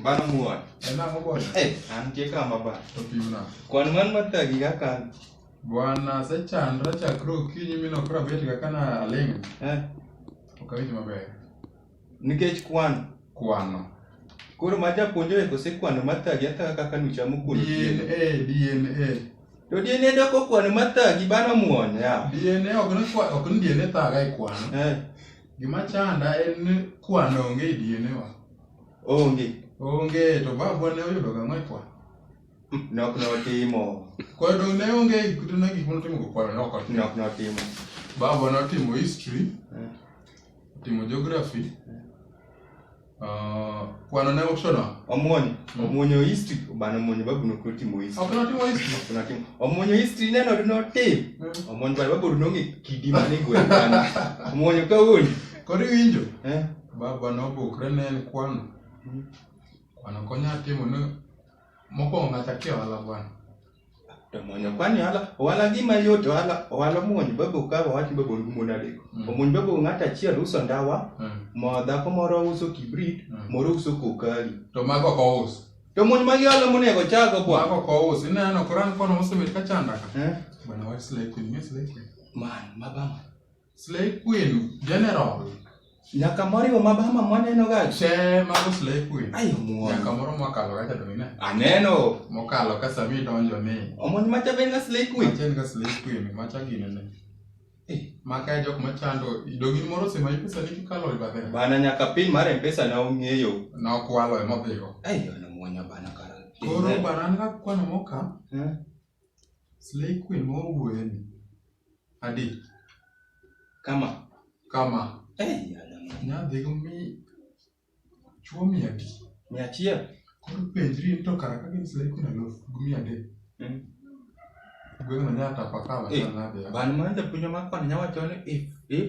Bana muon. Ena mobona. Eh, an tie kama ba. To pimna. Kwan man matagi ga kan. Bwana sechandra chakre okinyi mi nokra bet ga kana aling. Eh. Okawinj maber. Nikech kwan. Kwano. Koro ma japuonjre kose kwano matagi ata kaka nuchamo kuno. DNA, DNA. To DNA doko kwano matagi bana muon ya. DNA ok ni kwano, ok ni DNA thaga e kwano. Eh. Gima chanda en ni kwano onge e diene wa. Onge. Onge to babwa ne oyudo gang'o e kwano. Nok notimo. Koro to ne onge e kuto na gik motimo go kwano nok otimo. Nok notimo. Babwa notimo history. Eh. Timo geography. Eh. Ah, kwano ne uchono omuonyo hmm. omuonyo history bana omuonyo babu no koti mo history okuna timo history okuna timo omuonyo history ne no no tim hmm. omuonyo bana babu no ngi kidi mane gwe bana omuonyo ka woni kodi winjo eh baba no bukre ne en kwano hmm. kwano konya timo no mokwongo ng'ata kia wala bwana to muonyo kwani ohala ohala gima yot ohala ohala muonyo babo ka wawach babo mon adek Mm. omuonyo babo ng'ato achiel uso ndawa Mm. mo dhako moro uso kibrit Mm. moro uso kokali to mago ok ous to muonyo magi ohala monego chago mago bwana ok ous ineno koran kono mosemit ka chanda ka Eh? bwana wach slay queen mi slay queen man mabama Slay Queen General. Nyaka moriwo mabama mwaneno ga. Che mago Slay Queen. Ayo muon. Nyaka moro mwakalo ga chado ine. Aneno. Mokalo ka sami donjo ni. Omon macha ben ga Slay Queen. Macha ga Slay Queen. Macha gine ne. Eh, maka e jok machando idogi moro sema ipesa ni kikalo e babe. Bana nyaka pin mar mpesa na ong'eyo. Na okwalo e modhigo. Ayo na muonya bana kara. Koro bana na kwano moka. Eh. Slay Queen ma wawuoye ni. Adi. Kama. Kama. Eh, nadhi go mi chuo mia adi. Mia achiel. Koro penjri to kara ka gin Slay Queen alof gi mia adek. Mm. Gweng'no nyaka pakawa. Eh, bantu manze puonjo makwana nyawacho ni if if